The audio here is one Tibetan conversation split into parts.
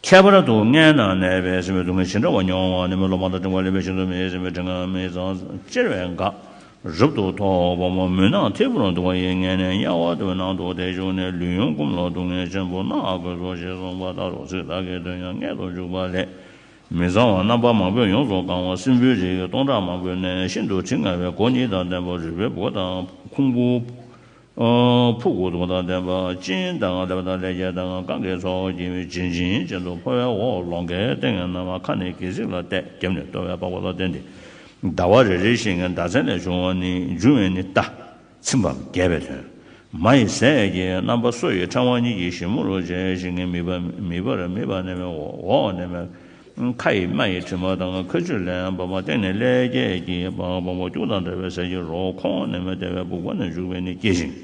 ཁྱད་པར་དུ་མངལ་ན་གནས་པའི་སྲིན་བུའི་སྡུག་བསྔལ་ཇི་འདྲ་བ་མྱོང་བ་ནི་མི་སློབ་མ་དང་འབྲིང་བ་ལེན་པའི་ཤིང་ཟོར་མེའི་སྲིན་བུའི་དྲི་ངན་མི་གཙང་གཅེར་བས་འགག། རབ་ཏུ་ཐོགས་པ་མོ་མུན་ནག་ཐིབས་པོར་འདུག་པ་ཡི་མངལ་ནས་དམྱལ་བ་དུ་ནང་དུ་དེ་ཞུགས་ནས་ལུས་ཡོངས་བསྐུམས་ལ་སྡུག་བསྔལ་ཆེན་པོ་མནར་དགོས་སོ་ཞེས་གསུངས་པ་ལྟར་རོ་ཚིག་དག་གིས་དོན་ཡང་མངལ་དུ་འཇུག་པ་ལས། མི་གཙང་བ་རྣམ་པ་མང་པོས་ཡོངས་སུ་གང་བ་སྲིན་བུའི་རིགས་སྟོང་ཕྲག་མང་པོའི་ནད་ཤིན་ཏུ་དྲི་ང་བའི་སྒོ་གཉིས་དང་ལྡན་པ་རུས་པའི་སྦུ་དང་ཁུང་བུ། ཕུག་གུ་དུང་དང་ལྡན་པ་སྤྱིན་དང་ལེབ་དང་ལེ་བརྒྱད་དང་གང་གའི་ཚོགས་ཀྱིས་བྱིན་ཅིང་བྱིན་དུ་འཕོ་བའི་འོག་ལོང་གའི་སྟེང་ནས་ནམ་མཁའ་ནས་གྱི་ཟིག་ལ་གཏད་རྒྱབ་ནས་ལྟོ་བའི་པགས་པ་ལ་བརྟེན་ཏེ། ཟླ་བ་རེ་རེ་ཞིང་ཟླ་མཚན་ལས་བྱུང་བ་ནི་འབྱུང་བས་ནི་རྟ། ཚིམ་པའམ་རྒྱས་པའི་དོན། མ་ཡི་ཟས་ཀྱི་རྣམ་པ་སོ་ཡི་ཕྲེང་བ་གཉིས་ཀྱིས་ཞིབ་མོར་བཅད་ཅིང་མིད་པ་མིད་པར་མིད་པ་མནན་པའི་འོག་ནས་མེ། མཁའ་ཡི་རྨ་ཡི་དྲི་མ་དང་མཁའ་སྤྱོད་ལས་བབས་པ་སྟེང་ནས་ཀླད་རྒྱས་ཀྱི་བག་འབོག་པོ་སྐྱུག་དང་འདྲ་བའི་ཟས་ཀྱི་རོ་ཁོང་ནས་མི་བདེ་བའི་སྦུག་པ་ནས་བཞུར་བས་ནི་སྐྱེ་ཞིང།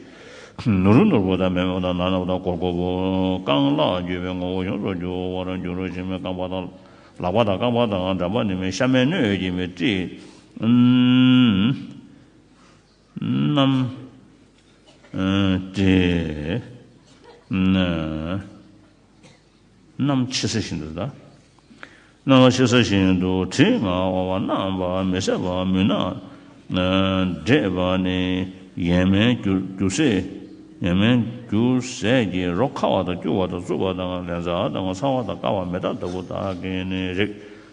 ནུ་རུ་ནུར་པོ་དང་མེ་མོ་དང་ནག་ནག་དང་གོར་གོར་པོ། རྐང་ལག་རྒྱུས་པའི་ངོ་བོ་ཡོངས་སུ་འགྱུར་བར་འགྱུར་རོ་ཞེས་མི་རྐང་པ་དང། ལག་པ་དང་རྐང་པ་དང་འགྲམ་པ་ནི་མི་ཤ་མེད་སྣོད་ཀྱི་མི་དྲི། རྣམ། དྲི། རྣམས་ཕྱི་ས་བཞིན་དུ་གདའ། སྣང་བ་ཕྱི་ས་བཞིན་དུ་བྲི། ངག་དབང་བ་རྣམས་པ་མི་ཟད་པར་མོས་ན། འདྲེས་པ་ནི་ཡན་མན་རྒྱུ་ཟས། ཡན་མན་རྒྱུ་ཟས་ཀྱི་རོ་ཁ་བ་དང་སྐྱུར་བ་དང་རྩུབ་པ་དང་ལན་ཚྭ་དང་ཚ་བ་དང་དཀར་བ་མེ་སྟག་ལྟ་བུ་དག་གིས་ནི་རེག།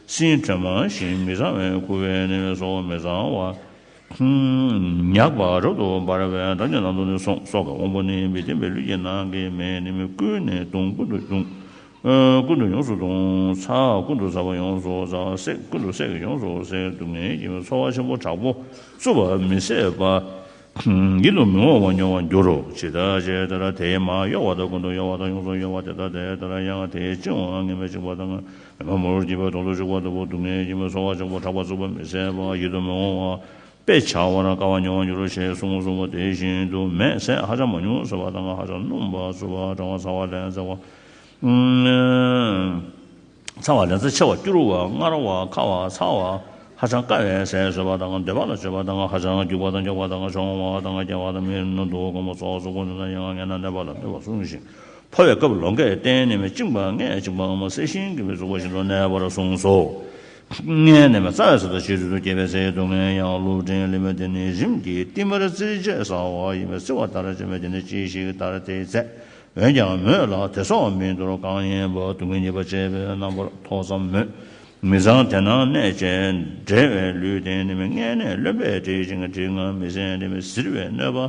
སྲིན་བྲན་མང་ཞིང་མི་བཟང་བས་ཁུ་བས་ནི་སོ་མི་བཟང་བ། ཉག་པ་རབ་ཏུ་འབར་བའི་བདག་ཉིད་ལ་འདུག་ནས་སོང་སོགས་ཀྱི་དབང་པོ་ནི་མི་བརྟན་པའི་ལུས་ཀྱི་ནང་གི་མེ་ནི་མི་ཀུན་ནས་གདུང་ཀུན་ཏུ་གདུང། ཀུན་ཏུ་ཡོངས་སུ་གདུང། ཚ་ཀུན་ཏུ་ཚ་བ་ཡོངས་སུ་ཚ་བ་སྲེག་ཀུན་ཏུ་སྲེག་ཡོངས་སུ་སྲེག་སྡུག་བསྔལ་གྱི་ཚོར་བ་ཆེན་པོ་དྲག་པོ་རྩུབ་པ་མི་བཟད་པ། ཡིད་དུ་མི་འོང་བ་མྱོང་བར་འགྱུར་རོ། ཇི་ལྟར་ཇི་ལྟར་དེའི་མ་གཡོ་བ་དང་ཀུན་ཏུ་གཡོ་བ་དང་ཡོངས་སུ་གཡོ་བ་དེ་ལྟར་དེ་ལྟར་ཡང་དེའི་བཅིང་བ་ངེས་པའི་བཅིང་བ་དང། ཉི་མ་མོར་གྱིས་པ་དོང་དུ་བཅུག་པ་ལྟ་བུ་སྡུག་བསྔལ་གྱིས་མི་སོང་བ་ཆོག་པར་གྲགས་པ་རྩུབ་པ་མི་བཟད་པ་ཡིད་དུ་མི་འོང་བ་དཔེ་བྱ་བ་ན་དཀའ་བ་མྱོང་བར་འགྱུར་རོ་ཞེས་གསུངས་གསུངས་པ་དེ་བཞིན་དུ་མེས་བསྲེགས་ཧ་ཅང་མ་ཉུང་ཟེར་བ་དང་ཧ་ཅང་སྣུམ་པར་རྩུབ་པ་གྲང་བ་ཚ་བ་ལན་ཚ་བ། ཚ་བ་ལན་ཚ་ཆེ་བ་སྐྱུར་བ་མངར་བ་ཁ་བ་ཚ་བ་ཧ་ཅང་དཀའ་བའི་ཟས་ཟོས་པ་དང་འདོད་པ་ལ་སྤྱོད་པ་དང་ཧ་ཅང་སྐྱུགས་པ་དང་འགྱོགས་པ་དང་གྱོང་བ་དང་སྐྱེ་བ་དང་མིའི་ནུ་མདོག་སྐམ་པོ་སོགས་སུ་གོ་ནུས་ན་ཡང་ངན་ན་ནད་པ་ལ་སྨོད་པར་གསུངས་ཤིང་འཕོ་བའི་སྐབས་ལོ་འགས་གཏན་ནས་མི་བཅིངས་པ་ལྔས་བཅིངས་པའང་མ་ཟད་ཤིང་གི་མི་རྫོགས་པ་བཞིན་དུ་གནས་པར་གསུངས་སོ། ལྔས་ནི་མི་རྩ་བའི་ས་དང་བྱེ་རུལ་དུ་སྐྱེས་པའི་ཚེའི་སྡུག་བསྔལ་ཡང་ཀླུ་བྲན་ལི་མ་དེ་ནི་རིམ་གྱིས་བསྟིམ་པར་བརྩིར་བཅས་ཟ་བ་ཡིན་པས་བརྩི་བ་ལྟར་བཅོས་མས་དེ་ནི་ཅི་ཞིག་ལྟར་དེ་བཙས། འོན་ཀྱང་མོད་ལ་དེ་སོགས་མི་འདོར་གང་ཡིན་པ་སྡུག་བསྔལ་ཉེས་པ་བཅས་པའི་རྣམ་པར་ཐོ་ཙམ་མོད། མི་བཟང་དེ་ནང་གནས་བཅས་འབྲེལ་བའི་ལུས་རྟེན་ནི་མི་མངལ་ནས་རློན་པས་བྲེད་ཅིང་དྲི་ང་མི་བཟད་འདྲེ་མི་གཟིར་བའི་གནོད་པ་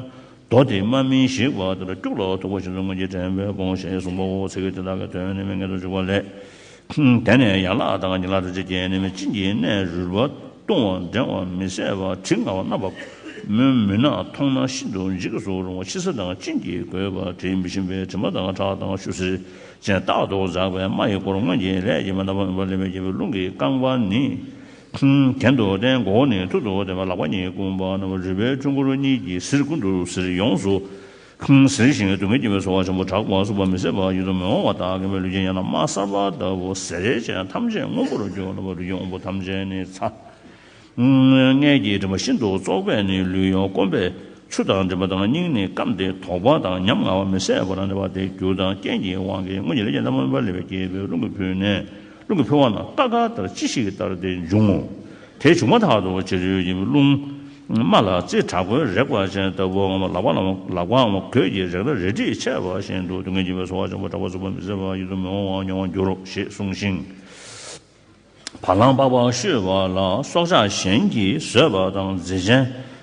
མདོ་དེའི་མ་སྨིན་ཞིག་བ་དེ་ལ་སྐྱུག་ལ་ཐུག་པ་བཞིན་དུ་སྔོན་གྱི་དྲན་པའི་དགོངས་བཞེད་གསུམ་པོ་འོ་ཚིག་དེ་དག་གི་དོན་ནི་མི་ངེས་སུ་འཇུག་པ་ལས། དེ་ནས་ཡན་ལག་དང་ཉིང་ལག་དྲི་ཆུ་རྐྱེན་ནི་མི་གཅིན་གྱི་ནད་རུལ་བ་བཏུང་བ་འགྲེང་བ་མི་བཟད་པ་དྲི་ང་བ་རྣ་བབས་མོའི་མུན་ནག་མཐོང་ན་ཤིན་ཏུ་འཇིགས་སུ་རུང་བ་ཕྱི་ས་དང་གཅིན་གྱིས་གོས་པ་དྲི་མི་ཞིམ་པའི་དྲི་མ་དང་ཁྲག་དང་ཆུ་སེར་ཅན་རྟག་ཏུ་འཛག་པའི་རྨ་ཡི་སྐོར་སྔོན་གྱི་ལས་ཀྱི་མ་རྣམ་པ་མུན་པ་ལེན་པའི་རྒྱལ་པོའི་རླུང་གིས་བཀང་བ་ནི། གྱེན་དུ་བསྟན་མགོ་བོ་ནི་ཐུར་དུ་བསྟན་པ་ལག་པ་གཉིས་བསྐུམ་པ་རྣམས་རུས་པའི་ཆུ་མགོ་རུ་གཉིས་ཀྱིས་གཟིར་ཀུན་ཏུ་གཟིར་ཡོངས་སུ་གཟིར་ཞིང་སྡུག་བསྔལ་སྐྱེ་བའི་ཚོར་བ་ཆེན་པོ་དྲག་པ་སྲུབ་པ་མི་བཟད་པ་ཡིད་དུ་མི་འོང་བ་དག་ངན་པའི་ལུས་ཅན་ཡང་ན་མ་གསར་པ་ལྟ་བུ་ཟས་རལ་ཅན་ཐམས་ཅད་སྔོན་པོར་གྱུར་ནུབ་པ་ལུས་ཀྱི་དབང་པོ་ཐམས་ཅད་ནི་ཚ། མངལ་གྱི་མགྲིན་པ་ཤིན་ཏུ་བཙོག་པས་ནི་ལུས་ཡོངས་སྐོམ་པས་ཆུ་དང་མགྲིན་པ་དང་སྙིང་ནི་སྐམ་སྟེ་དོག་པ་དང་ཉམ་ང་བ་མི་བཟད་པ་དང་འདྲ་བ་སྟེ་རྒྱུ་དང་རྐྱེན་གྱི་དབང་གིས་སྔོན་གྱི་ལས་ཅན་རྣམས་མངོན་པར་ལེགས་པའི་སྐྱེས་བུས་རླུང་གིས་ཕུལ་ནས། རླུང་གི་འཕོ་བ་ནི་རྟ་སྒ་ལྟར་ཅི་ཞིག་ལྟར་དེ་འབྱུང་ངོ། དེ་བྱུང་མ་ཐག་ཏུ་ཕྱི་རོལ་གྱི་རླུང། རྨ་ལ་རྩི་དྲག་པོའི་རེག་པ་ཅན་ལྟ་བུའམ་ལག་པ་ལམ་ལག་པའམ་གོས་ཀྱིས་རེག་ན་རལ་གྲིས་ཆད་པ་བཞིན་དུ་སྡུག་བསྔལ་གྱི་བའི་ཚོར་བ་འབྱུང་བ་འདྲ་བར་རྩུབ་པ་མི་བཟད་པར་ཡིད་དུ་མི་འོང་བ་མྱོང་བར་འགྱུར་རོ་ཞེས་གསུངས་ཤིང། བ་ལང་པགས་པ་བཤུས་པ་ལ་སྲོག་ཆགས་གཞན་གྱིས་ཟོས་པ་དང་རྫས་ཆེན་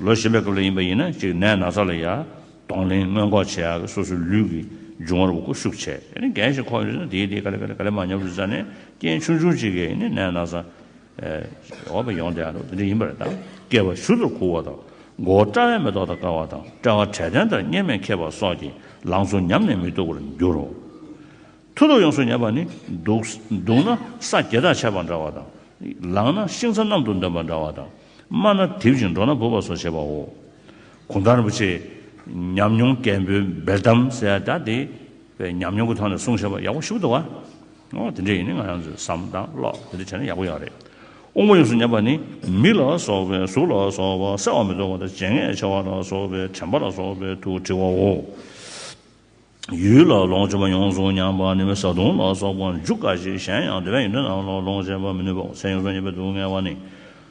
ལོ་གཞན་པའི་སྐབས་ལ་ཡིན་པ་ཡིན་ན་གཅིག་ནད་ན་ཚ་ལ་ཡང་གདོང་ལེན་སྔོན་འགོག་བྱེད་ཡག་གི་སོ་སོའི་ལུས་ཀྱི་འབྱུང་བར་བརྐུ་བཤུག་བྱས་ཡིན་ན་འགན་ཞིག་ཁོག་ཡོད་ན་དེའི་དེའི་ག་ལེ་ག་ལེ་ག་ལེ་མ་ཉམས་རུས་ཚ་ནས་རྐྱེན་ཆུང་ཆུང་ཅིག་གིས་ཡིན་ནད་ན་ཚ་འོག་པ་ཡོང་བསྡད་ཡག་འདི་འདྲ་ཡིན་པ་རེད་དམ། སྐྱེས་པ་ཞུ་དུར་ཁུག་བ་དང་མགོ་བོ་སྐྲ་བས་མེ་ཏོག་དང་དཀར་བ་དང་སྤྲ་བ་དྲལ་ཐེན་ལྟར་གཉེར་མས་ཁེབས་པ་སོགས་ཀྱིས་ལང་ཚོ་ཉམས་ནས་མི་སྡུག་པར་འགྱུར་རོ། ཐུར་ལུགས་ཡོངས་སུ་ཉེས་པ་ནི་འདུག་ན་ས་བརྒྱལ་ཐག་ཆད་པ་འདྲ་བ་དང། ལངས་ན་ཤིང་ཚ་གནམ་དུ་འདོན་པ་འདྲ་བ་དང། སྨྲ་ན་དེབ་ཅིང་འགྲོ་ན་བུ་བ་སོགས་བྱེད་པའོ། གུང་ཐང་རིན་པོ་ཆེས་ཉམས་མྱོང་རྒན་པོའི་འབེལ་གཏམ་ཟེར་ཡ་དག་དེ་བས་ཉམས་མྱོང་གི་ཐོག་ནས་གསུང་བྱས་པ་ཡག་པོ་ཞུགས་འདུག་བ། ཨོ་དེ་འདྲས་ཡིན་ནི་ང་རང་ཚོས་བསམ་དང་ཀློག་དེ་འདྲས་བྱས་ན་ཡག་པོ་ཡག་རེད། དབུ་མ་ཡོངས་སུ་ཉམས་པ་ནི་མི་ལ་སོགས་པའི་གཟུགས་ལ་སོགས་པ་གསལ་བར་མི་རྟོགས་པ་དང་བྱས་ངན་ཆེ་བ་ལ་སོགས་པའི་དྲན་པ་ལ་སོགས་པའི་དུག་བྲི་བའོ། ཡུལ་ལ་ལོངས་སྤྱོད་པ་ཡོངས་སུ་མྱངས་པ་ནི་བཟའ་བཏུང་ལ་སོགས་པ་འཇུ་དཀའ་ཞིང་གཞན་ཡང་དེ་བས་ཡུན་རིང་ལ་ལོངས་སྤྱད་པར་མི་ནུས་པའོ་ཚེ་ཡོངས་སུ་རྙེད་པའི་སྡུག་བསྔལ་བ་ནི་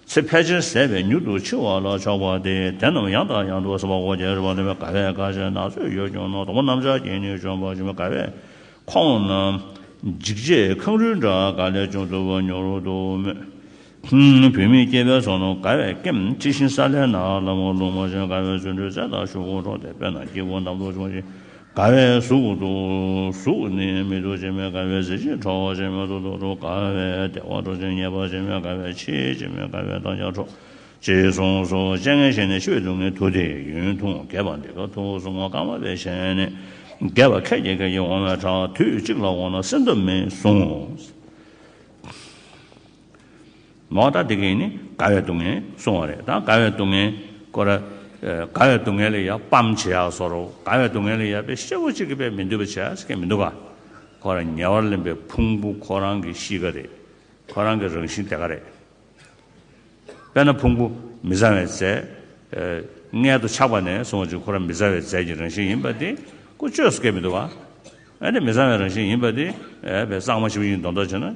ཚེ་ཕལ་ཆེར་ཟད་པས་མྱུར་དུ་འཆི་བ་ལ་ཕྱོགས་པ་སྟེ་དེ་རྣམས་ཡང་དག་ཡང་དུ་བསྲུང་བ་འོ་བརྒྱལ་རུལ་བ་འདོན་པའི་དགའ་བས་དགའ་བྱེད་ནག་ཚོས་ཡོད་ཀྱང་ནོར་དང་པོ་གནམ་ལྕགས་ཀྱིས་ནི་བཅོམ་པར་འབྱུང་བའི་དགའ་བས་ཁོང་ན། འཇིགས་བྱེད་ཁང་རུལ་འདྲ་དགའ་ལས་ཅུང་དུ་བ་ཉོ་རུ་འདུག་མོད། བུད་མེད་སྐྱེས་པའི་ཚོགས་རྣམས་དགའ་བས་སྐེམ། དྲི་བཞིན་སཱ་ལའི་ནགས་ལ་མོ་རླུང་མ་ཅན་དགའ་བའི་བརྫུན་འཕྲུལ་རྩལ་དང་ཤུགས་འཁོར་འཕྲོག་སྟེ་དཔལ་དང་སྐྱེ་བོ་རྣམས་གདུག་སྦྱོང་ཞིང་དགའ་བས་གཟུགས། གཟུགས་ནི་མི་སྡུག་ཅེས་སྨྲས་དགའ་བའི་གཟི་བརྗིད་འཕྲོག་ཅེས་སྨྲས་གདུག་རྡོག་འཕྲོག་དགའ་བས་བདེ་བ་འཕྲོག་ཅིང་ཉེས་པ་ཅེས་སྨྲས་དགའ་བས་འཆི་ཅེས་སྨྲས་དགའ་བས་བདག་ཅག་འཕྲོག། ཅེས་གསུངས་སོ། སྤྱན་སྔའི་ཞལ་ནས་ཕྱི་བའི་སྡུག་བསྔལ་དུ་སྟེ་ཡུན་ཐུང་བརྒྱད་པ་འདི་ཀ་ཐུགས་གསུང་ངོ་རྐང་མ་པའི་ཞལ་ནས་རྒྱས་པ་ཁད་ཀྱིས་ཁད་ཀྱིས་འོང་བའི་གྲགས་དུས་གཅིག་ལ་འོང་ན་སེམས་འདོད་མི་གསུང། མོ། ད་དེ་གིས་ནི་དགའ་བའི་སྡུག་བསྔལ་བཟུང་བ་རེད་ད་དགའ་བའི་སྡུག་བསྔལ་ཀོ་ར། དགའ་བའི་སྡུག་བསྔལ་ལས་ཡ་པམ་བྱེད་ཡག་སོ་རོ་དགའ་བའི་སྡུག་བསྔལ་ལས་ཡ་པའི་ཤེ་བོ་གཅིག་གི་པའི་མི་འདོད་པ་བྱེད་ཡག་སྐད་མི་འདུག་ག། ཁོ་ར་ཉེ་བར་ལེན་པའི་ཕུང་པོ་ཁོ་རང་གི་གཤིས་ཀ་རེད། ཁོ་རང་གི་རང་བཞིན་དེ་ག་རེད། དཔེར་ན་ཕུང་པོ་མི་བཟང་བའི་རྫས། མངལ་དུ་ཆགས་པ་ནས་བཟུང་བར་ཁོ་ར་མི་བཟང་བའི་རྫས་ཀྱི་རང་བཞིན་ཡིན་པ་དེ་ཀོ་ཅོས་སྐད་མི་འདུག་ག། ཨ་ཏི་མི་བཟང་བའི་རང་བཞིན་ཡིན་པ་དེ། བས་གཙང་མ་ཞིག་ཡིན་མདོག་མདོག་བྱེད་ན།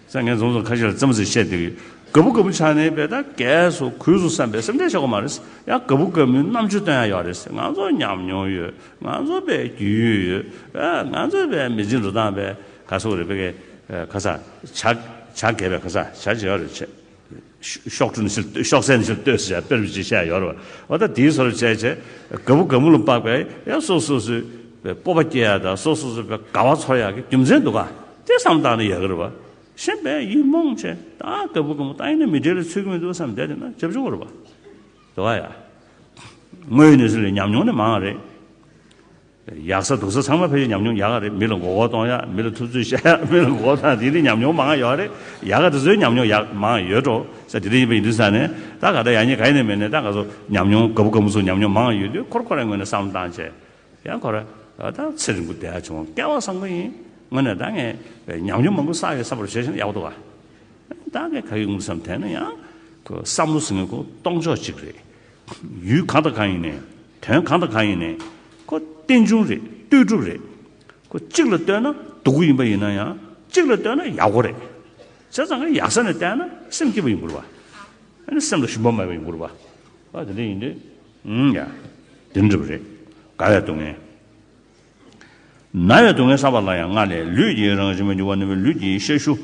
སངས་རྒྱས་རྫོང་སོགས་ཁ་ཤས་ལ་བརྩམས་ཟིན་བཤད་དེ། ག་བུ་ག་བུ་ཆགས་ནས་བལ་དང་རྒས་སོ་གུས་སོ་བསམ་པའི་སེམས་ཁྲལ་བྱེད་དགོས་མ་རེད། ཡང་ག་བུ་ག་བུའི་རྣམ་དཔྱོད་སྟོན་ཡག་ཡོད་རེད། ང་ཚོ་ཉམས་མྱོང་ཡོད། ང་ཚོ་བལ་རྒྱུས་ཡོད་ཡོད། ང་ཚོ་བལ་མི་ཚེ་འགྲོ་སྟངས་བལ་ག་སོགས་རེད་བལ་ག་ས་ཆ་ག་བལ་ག་ས་ཆ་བྱེད་ཡག་རེད་བྱེད། ཤོག་དྲུང་ཕྱིར་བསྟོད་ཤོག་སེན་ཕྱིར་བསྟོད་ཟེར་བྱ་དཔེར་བརྗོད་བྱས་ཡོད་རེད། འོ་ད་དེའི་སོར་བཅད་བྱས། དགའ་བོ་དགའ་མོ་ལ་དཔག་པས་ཡང་སོ་སོ་སོའི་སྤོབས་པ་སྐྱེ་ཡག་དང་སོ་སོ་སོའི་དགའ་བ་ཚོར་ཡག་གི་རྒྱུ་མཚན་འདུག་ག་དེ་བསམ་བཏང་ན་ཡག་གི་རེད་བ། གཞན་པས་ཡིག་རྨོངས་བྱས་ད་དགའ་བོ་དགའ་མོ་ད་ཡིན་ན་མི་འབྲེལ་ལ་ཚུད་ཀྱི་མི་འདུག་བསམ་བསྡད་བསྡད་ན་ཇེ་བྱུང་བ་རེད་བ། དེ་བ་ཡ། དངོས་ཡོད་གནས་ཚུལ་ལས་ཉམས་མྱོང་ནི་མང་བ་རེད། ཡག་ས་སྡུག་ས་ཚང་མ་ཕལ་ཆེར་ཉམས་མྱོང་ཡག་ག་རེད་མི་ལ་མགོ་སྐོར་གཏོང་ཡག་མི་ལ་ཐུབ་ཚོད་བཤད་ཡག་མི་ལ་མགོ་སྐོར་དང་དེ་འདྲའི་ཉམས་མྱོང་མང་ཡོད་རེད་ཡག་ག་དེ་ཚོའི་ཉམས་མྱོང་ཡག་མང་ཡོད་འགྲོ་ས་དེ་འདྲ་ཡིན་པ་ཡིན་དུས་ས་ནས་ད་ག་ད་ཡག་ཉེས་ག་ཡིན་ནི་མེད་ནས་ད་ག་ཚོ་ཉམས་མྱོང་ག་བུ་ག་མུ་ཚོ་ཉམས་མྱོང་མང་ཡོད་དུས་ཁོར་ཁོ་རང་ངོས་ནས་བསམ་བློ་བཏང་བྱས་ཡང་ཁོ་རང་ད་ཚེ་རིང་པོ་བསྡད་བྱུང་བསྐལ་བ་བཟང་པོ་ཡིན་ངོས་ནས་ད་ངས་ཉམས་མྱོང་མང་པོ་བསགས་ཡོད་ས་བར་བྱས་ཤིང་ཡག་པོ་འདུག་ག་ད་ངས་ག་གི་ངོས་སུ་བསམ་དེ་ནི་ཡང་བསམ་བློ་ཟིང་ངེ་གོ་གཏོང་ཕྱོགས་གཅིག་རེད། ཡུལ་གང་དང་གང་ཡིན་ནས། དོན་གང་དང་གང་ཡིན་ནས། ཁོ་རྟེན་འབྱུང་རེད་ལྟོས་གྲུབ་རེད། ཁོ་གཅིག་ལ་ལྟོས་ན་སྡུག་གུ་ཡིན་པ་ཡིན་ན་ཡང་གཅིག་ལ་ལྟོས་ན་ཡག་གོ་རེད། བྱས་ཙང་ངས་ཡག་ས་ནས་བལྟས་ན་སེམས་སྐྱིད་པ་ཡིན་དགོས་རེད་པ། ཨ་ནི་སེམས་ལ་ཞུམ་པ་མེད་པ་ཡིན་དགོས་རེད་པ། འོ་དེ་འདྲ་ཡིན་དུས། ཡ། དེ་འདྲ་རེད། དགའ་བའི་སྡུག་བསྔལ། ན་བའི་སྡུག་བསྔལ་བསལ་བ་ལ་ཡང་སྔར་ལས་ལུས་ཀྱི་རང་བཞིན་མ་འགྱུར་བ་ནུས་པའི་ལུས་ཀྱི་ཤ་ཞུ།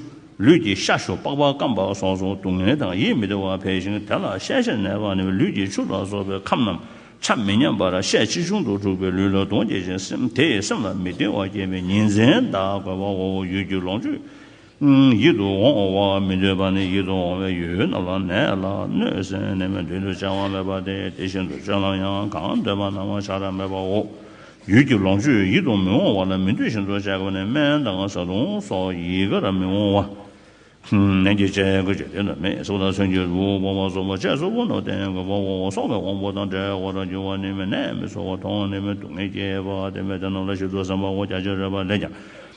ལུས་ཀྱི་ཤ་ཞུ་པགས་པ་སྐམ་པ་སོགས་སུ་སྡུག་བསྔལ་དང་ཡིད་མི་བདེ་བ་འཕེལ་ཞིང་དེ་ལ་ཤའི་ཤ་ནད་པ་ནུས་པའི་ལུས་ཀྱི་ཆུ་ལ་སོགས་པའི་ཁམས་རྣམས་ཆ་མི་མཉམ་པར་ཤས་ཆེ་ཆུང་དུ་འཁྲུགས་པས་ལུས་ལ་གདོན་བསྐྱེད་ཅིང་སེམས་དེས་སེམས་ལ་མི་བདེ་བ་བསྐྱེད་པས་ཉིན་མཚན་དག་གོ་བའོ་ཡུལ་གྱི་ལོངས་སྤྱོད་ཡིད་དུ་འོང་བ་མི་འདོད་པ་ནི་ཡིད་དུ་འོང་བའི་ཡུལ་རྣམས་ལ་ནད་ལ་གནོད་སེམས་ནད་མེད་མདུན་དུ་བྱ་བ་མེད་པ་སྟེ་དེ་བཞིན་དུ་སྤྱོད་ལམ་ཡང་གང་འདོད་པ་སྣང་བ་བྱ་ར་མེད་པའོ། ཡུལ་གྱི་ལོངས་སྤྱོད་ཡིད་དུ་མི་འོང་བ་ལ་མི་འདོད་བཞིན་དུ་བྱ་བ་ནི་སྨན་དང་བཟའ་བཏུང་སོགས་ཡི་གེ་ལ་མི་འོང་བ། ནན་གྱིས་དཔྱད་དགོས་ཀྱི་དོན་དུ་མེས་གསོ་དང་མཚོན་གྱི་རུས་སྦོམ་པ་གསོ་བ་བཅས་གསོ་བོ་ནོར་བསྟན་དགོས་པའོ་སོགས་པའི་དབང་པོ་དང་བྲལ་བར་འགྱུར་བ་ནི་མེས་ནད་མི་གསོ་བ་མཐོང་ནས་མི་སྡུག་བསྔལ་སྐྱེ་བ་དེ་མེ་དེ་ནོར་ལ་ཞིབ་ཏུ་བསམ་པའོ་རྒྱ་ཆེར་རོལ་པ་ལས་ཀྱང་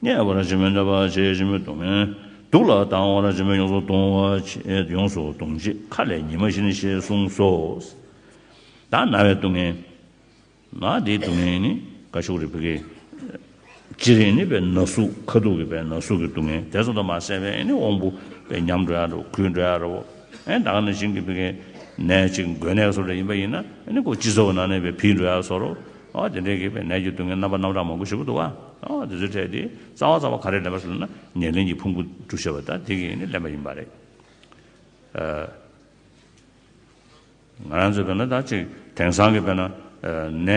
བརྔས་པར་བྱེད་མོད་གནོད་པར་བྱེད་ཅེས་མོས་གཏོང་མོད། སྡུག་ལ་སྡང་བར་བྱེད་མོད་ཡོངས་སུ་གཏོང་བར་བྱེད་ཡོངས་སུ་གཏོང་བྱེད་མཁའ་ལས་ཉི་མ་བཞིན་ཞེས་གསུངས་སོ། བདག་ན་བའི་སྡུག་བསྔལ། ན་དེའི་སྡུག་བསྔལ་ནི་ཀ་ཤུག་རི་བྷི་ཀའི། ཅི་རིགས་ནི་བའི་ན་ཟུག་ཁ་སྡུག་གི་བའི་ན་ཟུག་གི་སྡུག་བསྔལ་དེ་ཚོ་དང་མ་བསྲེས་པས་ནི་དབང་པོ་པའི་ཉམས་འགྲོ་ཡ་འགྲོ་གུད་འགྲོ་ཡ་འགྲོའོ། བདག་ནི་ཤིང་གི་བྷི་ཀའི། ནས་ཅིག་མགོའི་ནས་སོར་ལས་ཡིན་པ་ཡིན་ན་ནི་སྒོ་སྤྱི་ཚོགས་ན་ནས་པའི་བྷིས་འགྲོ་ཡ་སོར་རོ། དེ་འདྲའི་གེགས་པའི་ནད་ཀྱི་སྡུག་བསྔལ་རྣམ་པ་རྣམ་གྲངས་མང་པོ་ཞིག་པོ་འདུག་ཨ། དེ་ཚོའི་གྲས་དེ་རྩ་བ་རྩ་བ་ག་རེ་ལེན་པ་ཞེས་ལབ་ན་ཉེར་ལེན་གྱི་ཕུང་པོ་བསྒྲུབ་བྱ་བ་དང་དེ་གཉིས་ནི་ལེན་པ་ཡིན་པ་རེད། ང་རང་ཚོས་བལྟས་ན་ད་གཅིག་དེང་སང་གི་བལྟས་ན་ནད་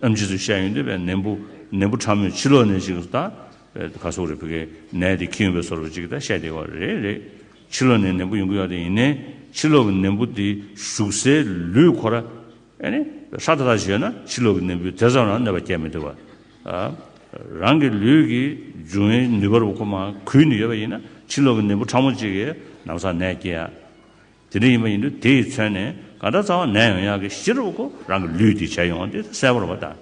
ཨ་མཆིས་ཚོས་བཤད་ཡོང་དུས་བལྟས་ནད་འབུ་ནད་འབུ་ཕྲ་མོས་ཕྱི་ལོག་ནས་ཞིག་ད་ག་སོག་རེད་བོད་གའི་ནད་དེ་ཁྱི་ཡོང་པའི་སོག་རུ་ཅིག་ད་བཤད་བསྡད་ཡོག་རེད་རེད། ཕྱི་ལོག་ནས་ནད་འབུ་ཡོང་གི་ཡོག་དེ་ཡིན་ནའི་ཕྱི་ལོག་གི་ནད་འབུ་དེ་ཞུགས་སའི་ལུས་ཁོ་ར། ཧྲཱི་ཏཱ་ཞེས་ན་ཕྱི་ལོག་གི་ནད་འབུའི་དེ་ཙམ་ལའང་གནོད་པ་བསྐྱལ་མི་ཐུབ་པ། རང་གི་ལུས་ཀྱི་འབྱུང་བའི་ནུས་པར་ཁོ་མ་གུས་ནས་ཡོད་པ་ཡིན་ན་ཕྱི་ལོག་གི་ནད་འབུ་ཕྲ་མོ་གཅིག་གིས་ནམ་བཟའ་ནད་སྐྱེ་ཡ། དེ་འདྲ་ཡིན་པ་ཡིན་དུས་དེ་ཡིས་མཚོན་ནས་ག་འདྲ་གཙང་བ་ནད་ཡོང་ཡག་གི་གཞི་རུ་ཁོ་རང་གི་ལུས་དེ་བྱས་ཡོང་བ་འདི་གསལ་བོར་བ་དང།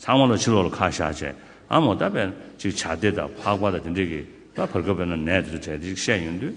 ཚང་མ་ལ་ཕྱི་ལོག་ལ་ཁ་བཤགས་བྱས་ཨ་མོ་ད་བས་ན་ཅིག་བྱ་དེ་དང་ཕག་པ་དང་དེ་འདྲས་ཀྱིས་ད་བར་སྐབས་བས་ན་ནད་དེ་ཚོ་གྲས་དེ་ཅིག་བཤད་ཡོང་དུས།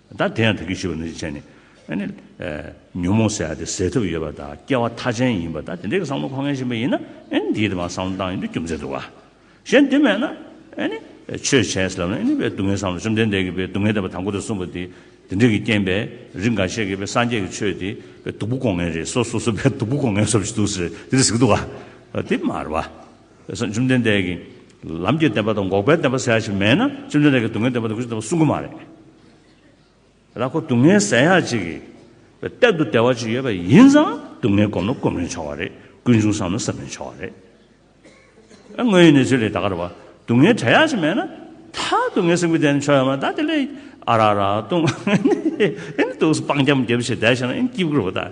ད་དེ་ཡང་དེ་སྐད་ཞུས་པ་ནི་ཅི་བྱས་ནས་ཨ་ནི། ཉོན་མོངས་སེལ་བ་དེ་སེལ་ཐབས་ཡོད་པ་དང་སྐྱེ་བ་མཐའ་ཅན་ཡིན་པ་དང་དེ་འདྲའི་བསམ་བློ་འཁོར་ངེས་བཞིན་པ་ཡིན་ན་ཨ་ནི་དེའི་དེ་བ་བསམ་བློ་བཏང་ཡོད་དུས་རྒྱུ་མཚན་འདུག་ག། གཞན་དེ་མེད་ན་ཨ་ནི། ཆོས་བྱས་ཟེར་ལབ་ན་ཨ་ནི་བའི་སྡུག་བསྔལ་བསམ་ལ་བཅོམ་ལྡན་འདས་ཀྱིས་བའི་སྡུག་བསྔལ་དེ་བ་དང་པོ་དེ་གསུངས་པ་དེ། དེ་འདྲས་ཀྱི་རྐྱེན་པས་རིགས་འགའ་ཤས་ཀྱིས་བའི་སངས་རྒྱས་ཀྱི་ཆོས་དེ་བའི་སྡུག་པོ་འགོག་ངེས་རེད་སོ་སོ་སོ་བའི་སྡུག་པོ་འགོག་ངེས་བསམ་བཞིན་འདུག་ཟེར་དེ་འདྲས་ཟིག་འདུག་ག། དེ་མ་རེད་བ། བཅོམ་ལྡན་འདས་ཀྱིས་ལམ་གྱི་བདེན་པ་དང་འགོག་པའི་བདེན་པ་ཟེར་ཡག་ཞིག་མེད་ན་བཅོམ་ལྡན་འདས་ཀྱིས་སྡུག་བསྔལ་བདེན་པ་དང་ཀུན་སྤྱོད་བདེན་པ་གསུང་གི་མ་རེད། ར་ཁོ་སྡུག་བསྔལ་ཟེར་ཡག་ཅིག་གི་གཏད་དུ་བདེ་བ་ཅིག་ཡོད་པ་ཡིན་ཙང་སྡུག་བསྔལ་བསྒོམས་ན་བསྒོམས་རན་ཆོག་བ་རེད་ཀུན་འབྱུང་བསམ་ན་བསམ་རན་ཆོག་བ་རེད། དངོས་ཡོད་གནས་ཚུལ་ལས་ད་གར་བ་སྡུག་བསྔལ་བྲལ་ཡག་ཅིག་མེད་ན་ད་སྡུག་བསྔལ་སེམས་ཀྱི་བདེན་ཆོག་ཡོད་མ་ད་དེ་ལས་ཨ་ར་ར་ལྟུང། ཨེ་ནི་ལྟུང་སོང་སྤང་རྒྱ་མོ་རྒྱབ་བྱས་བསྡད་བྱས་ན་ཨེ་ནི་སྐྱིད་བསྐུར་བ་ལྟ།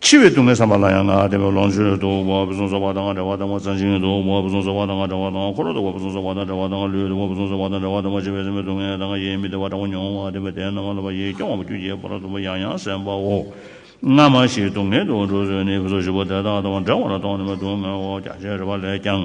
འཆི་བའི་སྡུག་བསྔལ་ཟ་མ་ལ་ཡང་ང་ལྟ་བུའི་ལོངས་སྤྱོད་དུ་བ་བུ་ཟུང་ཟོ་བ་དང་འདྲ་བ་དང་བ་ཚ་འཇིང་དུ་བ་བུ་ཟུང་ཟོ་བ་དང་འདྲ་བ་དང་འཁོར་ལོ་དུ་བ་བུ་ཟུང་ཟོ་བ་དང་འདྲ་བ་དང་ལུས་དུ་བ་བུ་ཟུང་ཟོ་བ་དང་འདྲ་བ་དང་འཆི་བའི་སེམས་པའི་སྡུག་བསྔལ་དང་ཡིད་མི་བདེ་བ་དྲག་པོ་མྱོང་བ་དེ་བས་དེ་རྣམས་ལ་བ་ཡིས་སྐྱོང་བ་པོ་ཁྱུ་རྒྱལ་པོ་རབ་ཏུ་བ་ཡང་ཡང་གསན་པའོ། སྔ་མ་བཞིའི་སྡུག་བསྔལ་དུ་འགྲོ་ཚུལ་ནི་བུ་ཟུང་བཞི་པོ་དེ་དག་དང་འདྲ་བ་ལ་སྟོང་ཉི་མའི་སྡུག་བསྔལ་བའོ་རྒྱ་ཆེར་བ་ལས་ཀྱང།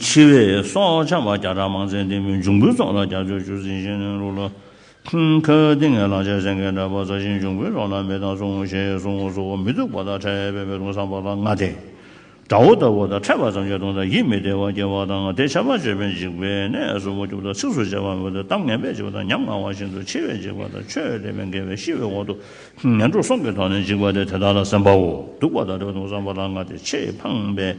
འཆི་བའི་སྲོག་ཆགས་བརྒྱ་ཕྲག་མང་ཚན་དེ་མིན་འབྱུང་པོའི་སྲོག་ལ་རྒྱ་མཚོའི་ཆུ་སྲིན་བཞིན་ནོན་རུང་ལ། ཁ་ཏིང་ངའི་ལག་ཆའི་སེང་གེ་འདྲ་བ་བཟའ་ཞིང་འབྱུང་པོའི་སྲོག་ལ་མེ་དང་ཟུག་རྔུ་ཆེ་ཡང་ཟུག་རྔུ་ཟོ་བོ་མི་སྡུག་པ་དང་ཕྲད་པའི་མེ་དཔུང་སངས་པ་ལ་ང་དེ། དགྲ་བོ་ལྟ་བུ་དང་ཕྲད་པ་ཙམ་གྱིས་གདུང་དང་ཡིད་མི་བདེ་བ་སྐྱེ་བ་དང་དེ་ཆད་པར་བྱེད་པས་འཇིགས་པའི་གནས་སུ་མུ་ཁྱུད་དང་ཚིགས་སུ་བཅད་པ་མོད་དེ་གཏམ་ངན་པས་འཇིགས་པ་དང་ཉམ་ང་བ་བཞིན་དུ་འཆི་བས་འཇིགས་པ་དང་ཆོས་དད་པས་འགལ་བས་ཤི་བའི་འོག་ཏུ་ངན་འགྲོ་སྲོག་གི་ཐོག་ནས་འཇིགས་པ་སྟེ་དེ་དག་ལ་སེམས་པའོ་སྡུག་པ་དང་ཕྲད་གདུང་སངས་པ་ལ་ང་དེ་ཆེས་ཕངས་པས།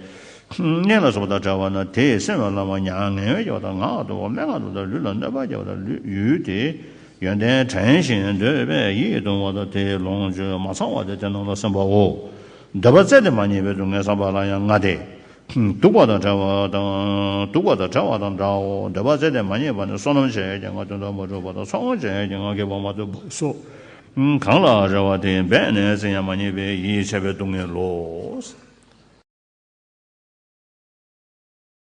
གནས་ལ་སོགས་པ་དང་བྲལ་བ་ན་དེས་སེམས་ལ་བླང་བ་མྱ་ངན་བས་སྐྱེ་བ་དང་ངག་ཏུ་འོ་མའི་ངག་ཏུ་དང་ལུས་ལ་གནོད་པར་སྐྱེ་བ་དང་ལུས་ཡུལ་དེའི་ཡོན་ཏན་དྲན་ཞིང་འདོད་པས་ཡིད་གདུང་བ་དང་དེའི་ལོངས་སྤྱོད་མ་ཚང་བ་སྟེ་དེ་རྣམས་ལ་སེམས་པའོ། འདོད་པ་བཙལ་ཏེ་མ་རྙེད་པའི་སྡུག་བསྔལ་བསམ་པ་ལ་ཡང་ང་སྟེ། སྡུག་པ་དང་བྲལ་བ་དང། སྡུག་པ་དང་བྲལ་བ་དང་འདྲའོ། འདོད་པ་བཙལ་ཏེ་མ་རྙེད་པ་ནི་བསོད་ནམས་བྱས་ཀྱང་ང་དོན་དུ་མ་གྲུབ་པ་དང་ཚོགས་དབང་བྱས་ཀྱང་ང་དགེ་བ་མ་ཐོབ་པས་སོ། གང་ལ་རེ་བ་དེ་འབད་ནས་བཙལ་ཡང་མ་རྙེད་པས་ཡིད་ཆད་པའི་སྡུག་བསྔལ་ལོ།